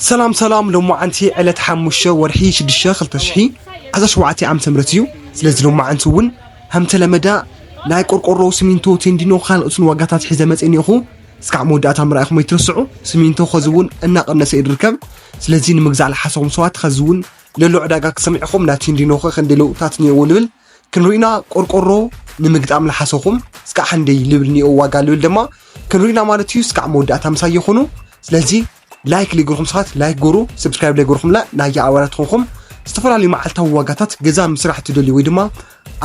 ሰላም ሰላም ሎማዓንቲ ዕለት ሓሙሽተ ወርሒ ሽዱሽተ ክልተ ሽሒ ዓሰርተ ሸውዓተ ዓመተ ምህረት እዩ። ስለዚ ሎማዓንቲ እውን ከምተለመዳ ናይ ቆርቆሮ፣ ስሚንቶ፣ ቴንዲኖ ካልኦትን ዋጋታት ሒዘ መፅእ እኒኦኹ። እስካዕ መወዳእታ ምርኣይኹም ኣይትረስዑ። ስሚንቶ ከዚ እውን እናቐነሰ እዩ ዝርከብ። ስለዚ ንምግዛእ ልሓሰኹም ሰባት ከዚ እውን ለሎ ዕዳጋ ክሰምዕ ኢኹም። ናይ ቴንዲኖ ከ ክንደይ ለውጥታት እኒኦዎ ልብል ክንሪኢና ቆርቆሮ ንምግጣም ልሓሰኹም እስካዕ ክንደይ ልብል እኒኦ ዋጋ ልብል ድማ ክንሪኢና ማለት እዩ። እስካዕ መወዳእታ ምሳይ ይኹኑ። ስለዚ ላይክ ለይገርኹም ሰባት ላይክ ገሩ ሰብስክራይብ ለይገርኹምላ ናያ ኣባላት ኾንኹም ዝተፈላለዩ መዓልታዊ ዋጋታት ገዛ ምስራሕ ትደልዩ ወይ ድማ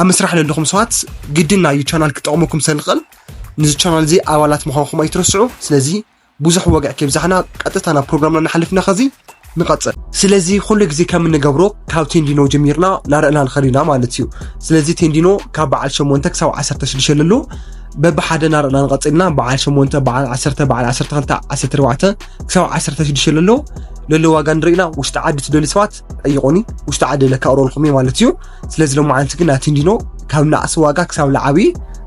ኣብ ምስራሕ ለለኹም ሰባት ግድን ናዩ ቻናል ክጠቕመኩም ሰልኽእል ንዚ ቻናል እዚ ኣባላት ምዃንኩም ኣይትረስዑ ስለዚ ብዙሕ ወግዕ ከብዛሕና ቀጥታ ናብ ፕሮግራምና ንሓልፍና ከዚ ንቐፅል ስለዚ ኩሉ ግዜ ከም እንገብሮ ካብ ቴንዲኖ ጀሚርና ናርእና ንኸሪና ማለት እዩ ስለዚ ቴንዲኖ ካብ በዓል 8 ክሳብ 16 ለሎ በብሓደ ናርና ንቐፅልና በዓል 8 በዓል 1 በዓል 12 14 ክሳብ 16 ለሎ ለሎ ዋጋ ንሪኢና ውሽጢ ዓዲ ትደልዩ ሰባት ጠይቆኒ ውሽጢ ዓዲ ለካቅረልኩም እየ ማለት እዩ ስለዚ ሎሚ ዓንቲ ግን ኣቲንዲኖ ካብ ናእሲ ዋጋ ክሳብ ላዓቢ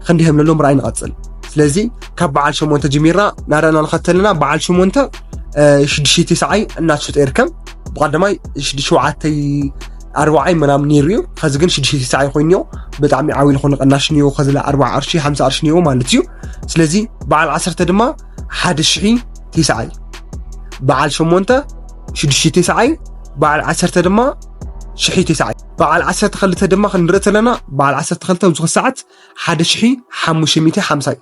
ክንዲ ከም ለሎ ምርኣይ ንቐፅል ስለዚ ካብ በዓል 8 ጀሚርና ናርና ንኸተልና በዓል 8 ሽዱሽተ ሰዓይ እናትሽጦ ይርከብ ብቀዳማይ ሽዱሽተ ሸውዓተይ ኣርባዓይ ምናምን ነይሩ እዩ ኸዚ ግን ሽዱሽተ ሽሳዓይ ኮይኑ እዮ ብጣዕሚ ዓብይ ዝኾነ ቐናሽ እዮ ኸዚላ ኣርባዓ ቅርሺ ሓምሳ ቅርሺ እዮ ማለት እዩ ስለዚ በዓል ዓሰርተ ድማ ሓደ ሽሒ ቴስዓይ በዓል ሸሞንተ ሽዱሽተ ቴስዓይ በዓል ዓሰርተ ድማ ሽሒ ቴስዓይ በዓል ዓሰርተ ክልተ ድማ ክንርኢ ተለና በዓል ዓሰርተ ክልተ ኣብዚ ሰዓት ሓደ ሽሒ ሓሙሽተ ሚእቲ ሓምሳ እዩ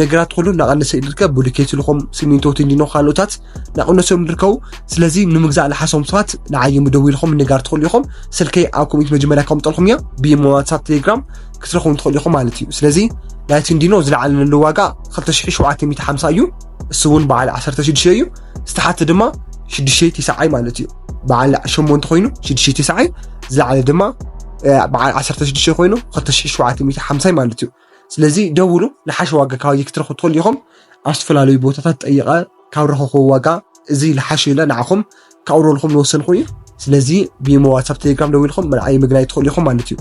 ነገራት ኩሉ እናቐነሰ እዩ ዝርከብ ብሉኬት ልኹም ሲሚንቶ ቲንዲኖ ካልኦታት እናቐነሶም ዝርከቡ ስለዚ ንምግዛእ ዝሓሰቡ ሰባት ንዓይ ምደዊ ኢልኹም ንጋር ትኽእሉ ኢኹም ስልከይ ኣብ ኮሚት መጀመርያ ከምጠልኩም እያ ብኢሞ ዋትሳፕ ቴሌግራም ክትረኽቡ ትኽእሉ ኢኹም ማለት እዩ ስለዚ ናይ ቲንዲኖ ዝለዓለ ንሉ ዋጋ 2750 እዩ እሱ እውን በዓል 16 እዩ ዝተሓተ ድማ 6 ትስዓይ ማለት እዩ በዓል 8 ኮይኑ 6 ትስዓይ ዝለዓለ ድማ በዓል 16 ኮይኑ 2750 ማለት እዩ ስለዚ ደውሉ ልሓሽ ዋጋ ካባይ ክትረኽቡ ትኽእሉ ኢኹም ኣብ ዝተፈላለዩ ቦታታት ጠይቐ ካብ ረኸኹ ዋጋ እዚ ልሓሽ ኢለ ንዓኹም ካብረልኹም ዝወሰንኩ እዩ ስለዚ ብሞ ዋትሳፕ ቴሌግራም ደው ኢልኹም መልዓይ ምግናይ ትኽእሉ ኢኹም ማለት እዩ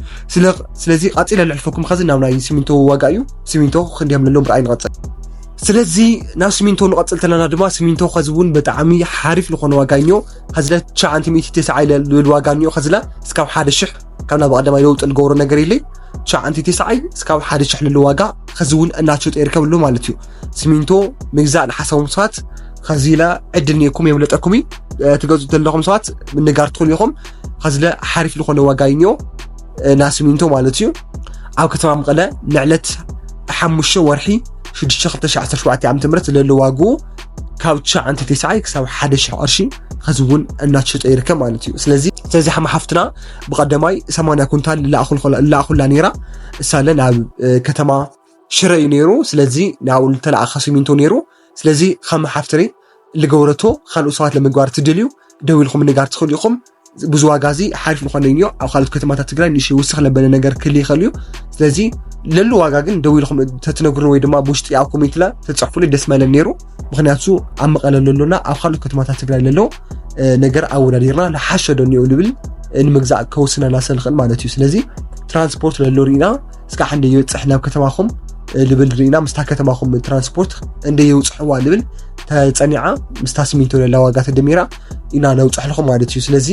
ስለዚ ቃፂለ ልሕልፈኩም ከዚ ናብ ናይ ሲሚንቶ ዋጋ እዩ ሲሚንቶ ክንዲ ከም ለሎም ብርኣይ ንቐፅል ስለዚ ናብ ሲሚንቶ ንቐፅል ተለና ድማ ሲሚንቶ ከዚ እውን ብጣዕሚ ሓሪፍ ዝኾነ ዋጋ እኒኦ ከዚ ለ 990 ኢለ ልብል ዋጋ እኒኦ ከዚ ለ እስካብ ሓደ ሽሕ ካብ ናብ ቀዳማይ ለውጢ ልገብሮ ነገር ኢለይ ትሽዓንቲ ትስዓይ እስካብ ሓደ ሽሕ ልሉ ዋጋ ከዚ እውን እናሸጡ ይርከብ ኣሎ ማለት እዩ ሲሚንቶ ምግዛእ ንሓሳቦም ሰባት ከዚ ኢለ ዕድል ኒኩም የምለጠኩም እዩ ትገዝኡ ዘለኹም ሰባት ምንጋር ትኽእሉ ኢኹም ከዚለ ሓሪፍ ዝኾነ ዋጋ እዩ ኒኦ እና ሲሚንቶ ማለት እዩ ኣብ ከተማ መቐለ ንዕለት ሓሙሽተ ወርሒ 6 2017 ዓ ም ዘለሉ ዋግኡ ካብ ትሽዓንተ ቴስዓይ ክሳብ ሓደ ሽሕ ቅርሺ ኸዚ እውን እናትሸጦ ይርከብ ማለት እዩ ስለዚ ስለዚ ሓማ ሓፍትና ብቀደማይ ሰማንያ ኩንታል ላኣኹላ ነይራ እሳለ ናብ ከተማ ሽረ እዩ ነይሩ ስለዚ ንብኡ ዝተለኣኸ ሲሚንቶ ነይሩ ስለዚ ከም ሓፍትሪ ልገብረቶ ካልኦት ሰባት ለምግባር ትደልዩ ደው ኢልኩም ንጋር ትኽእሉ ኢኹም ብዙ ዋጋ እዚ ሓሪፍ ንኾነኝ እዩ ኣብ ካልኦት ከተማታት ትግራይ ንሽ ውስኽ ለበለ ነገር ክል ይኽእል እዩ ስለዚ ለሉ ዋጋ ግን ደው ኢልኩም ተትነግሩ ወይ ድማ ብውሽጢ ኣብ ኮሜንትላ ተፅሕፉሉ ደስ መለን ነይሩ ምክንያቱ ኣብ መቐለ ለሎና ኣብ ካልኦት ከተማታት ትግራይ ለሎ ነገር ኣወዳዲርና ንሓሸ ዶ እኒኦ ንብል ንምግዛእ ከውስነና ስለንኽእል ማለት እዩ ስለዚ ትራንስፖርት ለሎ ርኢና ስካዕ እንደ ይበፅሕ ናብ ከተማኹም ልብል ርኢና ምስታ ከተማኹም ትራንስፖርት እንደ የውፅሕዋ ልብል ተፀኒዓ ምስታ ስሚንቶ ለላ ዋጋ ተደሚራ ኢና ነውፅሕልኹም ማለት እዩ ስለዚ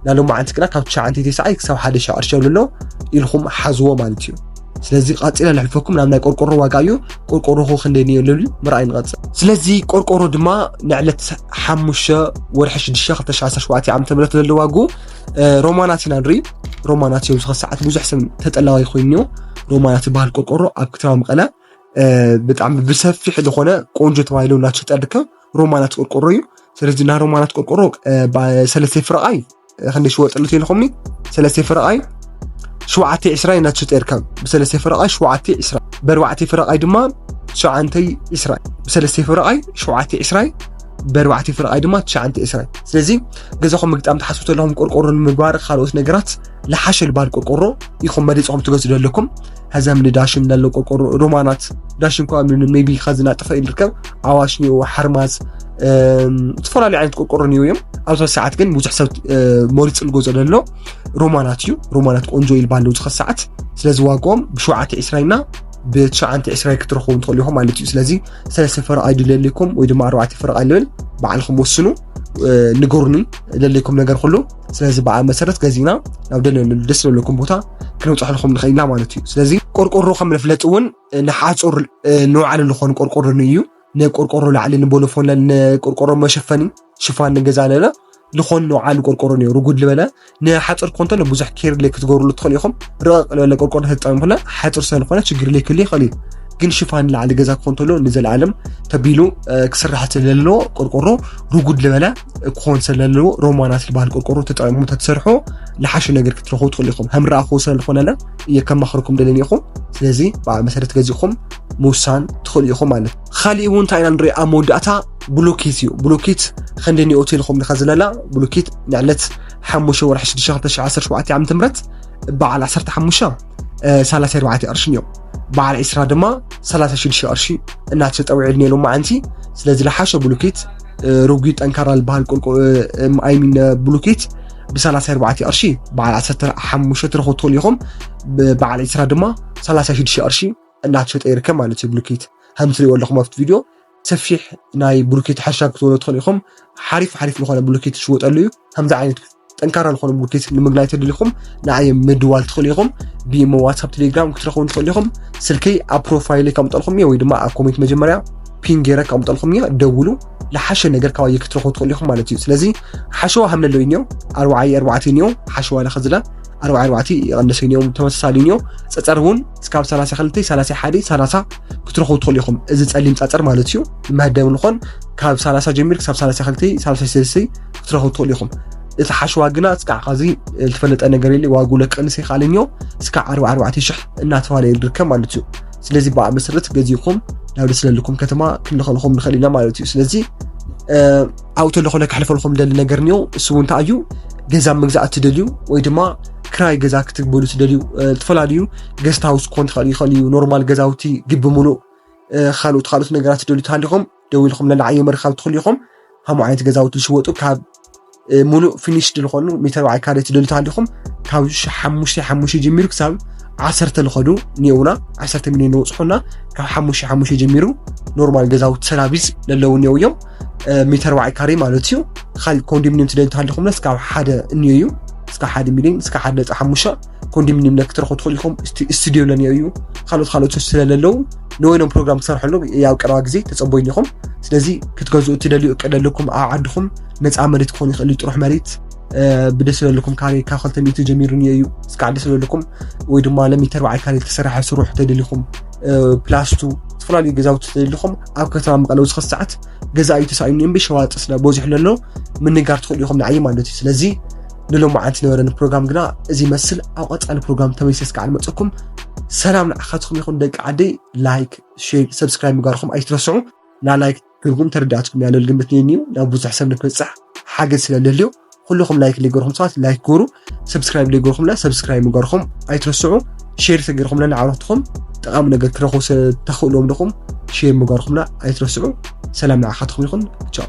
ናሎ መዓልቲ ግና ካብ ትሽዓንተ ተስዓይ ክሳብ ሓደ ሻዕ ቅርሺ ኣሎ ኢልኩም ሓዝዎ ማለት እዩ ስለዚ ቃፂለ ንሕልፈኩም ናብ ናይ ቆርቆሮ ዋጋ እዩ ቆርቆሮኹ ክንደይ ንዮ ልብል ምርኣይ ንቐፅል ስለዚ ቆርቆሮ ድማ ንዕለት ሓሙሽተ ወርሒ ሽዱሽተ ክልተ ሽዓ ዓሰርተ ሸውዓተ ዓመተ ምህረት ዘለዋጉ ሮማናት ኢና ንርኢ ሮማናት እዮም ዝኸሰዓት ብዙሕ ሰብ ተጠላዋይ ኮይኑ ሮማናት ዝበሃል ቆርቆሮ ኣብ ከተማ መቐለ ብጣዕሚ ብሰፊሕ ዝኾነ ቆንጆ ተባሂሉ እናተሸጠ ይርከብ ሮማናት ቆርቆሮ እዩ ስለዚ ናይ ሮማናት ቆርቆሮ ሰለስተ ፍረቓይ ክንደይ ሽወጥሉ ተልኹምኒ ሰለስተ ፍረቓይ ሸውዓተ ዕስራ እናተሸጠ ይርከብ ብሰለስተ ፍረቓይ ሸውዓተ ዕስራ በርባዕተ ፍረቓይ ድማ ሸውዓንተይ ዕስራ ብሰለስተ ፍረቓይ ሸውዓተ ዕስራይ በርባዕቲ ፍርቓይ ድማ ትሽዓንቲ እስራይ ስለዚ ገዛኹም ምግጣም ትሓስቡ ዘለኹም ቆርቆሮ ንምግባር ካልኦት ነገራት ልሓሸ ልባል ቆርቆሮ ኢኹም መሪፅኹም ትገዝኡ ዘለኩም ሀዘም ንዳሽን ዳሎ ቆርቆሮ ሮማናት ዳሽን ኳ ሜቢ ኸዝና ጥፈ ይርከብ ኣዋሽ ኒኦ ሓርማዝ ዝተፈላለዩ ዓይነት ቆርቆሮ ኒኦ እዮም ኣብዚ ሰዓት ግን ብዙሕ ሰብ መሪፅ ልገዞ ዘሎ ሮማናት እዩ ሮማናት ቆንጆ ይልባ ኣለዉ ዝኸ ሰዓት ስለዚ ዋግኦም ብሸውዓተ ዕስራይና ብትሽዓንተ ዕስራይ ክትረኽቡ ትኽእሉ ኢኹም ማለት እዩ ስለዚ ሰለስተ ፈረቓ እዩ ድለልኩም ወይ ድማ ኣርባዕተ ፈረቓ ልብል ባዕልኩም ወስኑ ንገሩኒ ደለይኩም ነገር ኩሉ ስለዚ በኣ መሰረት ገዚእና ናብ ደለለሉ ደስ ዘለኩም ቦታ ክንብፅሐልኩም ንኽእል ኢና ማለት እዩ ስለዚ ቆርቆሮ ከም መፍለጢ እውን ንሓፁር ንውዓለሉ ዝኾኑ ቆርቆሮ እዩ ንቆርቆሮ ላዕሊ ንቦሎፎን ንቆርቆሮ መሸፈኒ ሽፋን ንገዛ ኣለና ዝኾን ንውዓሉ ቆርቆሮ ኒዮ ርጉድ ልበለ ንሓፅር ኮንተ ብዙሕ ኬር ለይ ክትገብርሉ ትኽእል ኢኹም ርቕቕ ልበለ ቆርቆሮ ተጠቀምኩና ሓፅር ስለዝኾነ ችግር ለይ ክህሉ ይኽእል እዩ ግን ሽፋን ላዕሊ ገዛ ክኾን ተሎ ንዘለኣለም ተቢሉ ክስራሕ ስለለዎ ቆርቆሮ ርጉድ ልበለ ክኾን ስለለዎ ሮማናት ዝበሃል ቆርቆሮ ተጠቂምኩም ተትሰርሑ ልሓሹ ነገር ክትረኽቡ ትኽእሉ ኢኹም ከም ረኣኹ ስለዝኾነለ እየ ከማኽርኩም ደለኒ ኢኹም ስለዚ ብኣ መሰረት ገዚእኹም ምውሳን ትኽእሉ ኢኹም ማለት ኻሊእ እውን እንታይ ኢና ንርኢ ኣብ መወዳእታ ብሎኬት እዩ ብሎኬት ኸንደይ ኒኦት ኢልኹም ዲኻ ዝለላ ብሎኬት ንዕለት ሓሙሽተ ወርሒ ሽዱሽተ ክልተ ሽዓ ዓሰርተ ሸውዓተ ዓመተ ምህረት በዓል ዓሰርተ ሓሙሽተ ሰላሳ ኣርባዕተ ቅርሽን እዮም በዓል ዒስራ ድማ ሰላሳ ሽዱሽተ ቅርሺ እናተጠውዒሉ ነይሩ መዓንቲ ስለዚ ዝለሓሸ ብሎኬት ርጉ ጠንካራ ዝበሃል ቁልቁ ኣይሚን ብሎኬት ብሰላሳ ኣርባዕተ ቅርሺ በዓል ዓሰርተ ሓሙሽተ ትረኽቡ ትኽእሉ ኢኹም በዓል ዒስራ ድማ ሰላሳ ሽዱሽተ ቅርሺ እናተሸጠ ይርከብ ማለት እዩ ብሉኬት ከም ትሪእዎ ኣለኹም ኣብቲ ቪድዮ ሰፊሕ ናይ ብሉኬት ሕርሻ ክትበሉ ትኽእሉ ኢኹም ሓሪፍ ሓሪፍ ዝኾነ ብሉኬት ዝሽወጠሉ እዩ ከምዚ ዓይነት ጠንካራ ዝኾነ ብሉኬት ንምግናይ ተደሊኹም ንኣየ ምድዋል ትኽእሉ ኢኹም ብኢሞ ዋትሳፕ ቴሌግራም ክትረኽቡን ትኽእሉ ኢኹም ስልከይ ኣብ ፕሮፋይል ከምጠልኩም እየ ወይ ድማ ኣብ ኮሜንት መጀመርያ ፒን ገይረ ከምጠልኩም እየ ደውሉ ዝሓሸ ነገር ካባየ ክትረኽቡ ትኽእሉ ኢኹም ማለት እዩ ስለዚ ሓሸዋ ሃምለሎ እዩ እኒኦ ኣርባዓይ ኣርባዕተ እኒኦ ሓሸዋ ለኸዝለ ኣርባዕ ኣርባዕቲ ይቐንሰ እኒኦም ተመሳሳሊ እኒኦ ፀፀር እውን እስካብ ሰላሳ ክልተ ሰላሳ ሓደ ሰላሳ ክትረኽቡ ትኽእሉ ኢኹም እዚ ፀሊም ፀፀር ማለት እዩ መህደም ንኾን ካብ ሰላሳ ጀሚር ክሳብ ሰላሳ ክልተ ሰላሳ ሰለስተ ክትረኽቡ ትኽእሉ ኢኹም እቲ ሓሽዋ ግና እስካዕ ካዚ ዝተፈለጠ ነገር የለ ዋጉ ለቀንስ ይካለኞ እስካዕ ዓርቢ ዓርባዕተ ሽሕ እናተባሃለ ይርከብ ማለት እዩ ስለዚ ብኣ መሰረት ገዚኹም ናብ ደስለልኩም ከተማ ክንልኸልኹም ንኽእል ኢና ማለት እዩ ስለዚ ኣብኡ ተሎ ኮነ ክሕልፈልኩም ደሊ ነገር እኒኦ እሱ እውን እንታይ እዩ ገዛ ምግዛእ እትደልዩ ወይ ድማ ክራይ ገዛ ክትግበሉ ትደልዩ ዝተፈላለዩ ገስት ሃውስ ክኾን ትኽእል ይኽእል እዩ ኖርማል ገዛውቲ ግቢ ሙሉእ ካልኦት ካልኦት ነገራት ትደልዩ ትሃሊኹም ደው ኢልኩም ለላዓዮ ምርካብ ትኽእሉ ኢኹም ከምኡ ዓይነት ገዛውቲ ዝሽወጡ ካብ ሙሉእ ፊኒሽድ ዝኾኑ ሚተር በዓል ካሬ ትደልዩ ትሃሊኹም ካብ ሓሙሽተ ሓሙሽተ ጀሚሩ ክሳብ ዓሰርተ ዝኸዱ እኒኦውና ዓሰርተ ሚሊዮን ንወፅሑና ካብ ሓሙሽተ ሓሙሽተ ጀሚሩ ኖርማል ገዛውቲ ሰራቪስ ለለዉ እኒኦው እዮም ሜተር ባዓይ ካሬ ማለት እዩ ካሊእ ኮንዶሚኒየም ትደልዩ እንተሃለኹም እስካብ ሓደ እንዮ እዩ እስካብ ሓደ ሚሊዮን እስካብ ሓደ ነፃ ሓሙሻ ኮንዶሚኒየም ለ ክትረኽቡ ትኽእሉ ኢኹም ስቱድዮ ለንዮ እዩ ካልኦት ካልኦት ስለለለዉ ንወይኖም ፕሮግራም ክሰርሐሉ ያው ቀረባ ግዜ ተፀበይኒ ኢኹም ስለዚ ክትገዝኡ እትደልዩ እቅድ ኣለኩም ኣብ ዓድኹም ነፃ መሬት ክኾኑ ይኽእል ጥሩሕ መሬት ብደስ ዘለኩም ካሬ ካብ ክልተ ሚእቲ ጀሚሩ እንዮ እዩ እስካብ ደስ ዘለኩም ወይ ድማ ለሚተር ባዓል ካሬ ዝተሰርሐ ስሩሕ ተደሊኹም ፕላስቱ ዝተፈላለዩ ገዛውቲ ተደሊኹም ኣብ ከተማ መቐለ ውስኽ ሰዓት ገዛኢ ተሳኢኑ እምቢ ሸዋጥ ስለ በዚሑ ለሎ ምንጋር ትኽእሉ ኢኹም ንዓይ ማለት እዩ ስለዚ ንሎማዓንቲ ነበረኒ ፕሮግራም ግና እዚ መስል ኣብ ቐፃሊ ፕሮግራም ተመይሰ ስከዓ ንመፀኩም ሰላም ንዓኻትኩም ይኹን ደቂ ዓደይ ላይክ ሼር ሰብስክራይብ ምግባርኩም ኣይትረስዑ ላላይክ ትርጉም ተረዳእትኩም ያለል ግምት ነይኒዩ ናብ ብዙሕ ሰብ ንክበፅሕ ሓገዝ ስለልህልዩ ኩልኹም ላይክ ዘይገርኩም ሰባት ላይክ ግሩ ሰብስክራይብ ዘይገርኩምና ሰብስክራይብ ምግባርኩም ኣይትረስዑ ሼር ተገርኩምና ንዓረትኹም ጠቓሚ ነገር ክረኽቡ ተኽእሎም ድኹም ሼር ምግባርኩምና ኣይትረስዑ ሰላም ንዓኻትኩም ይኹን ቻው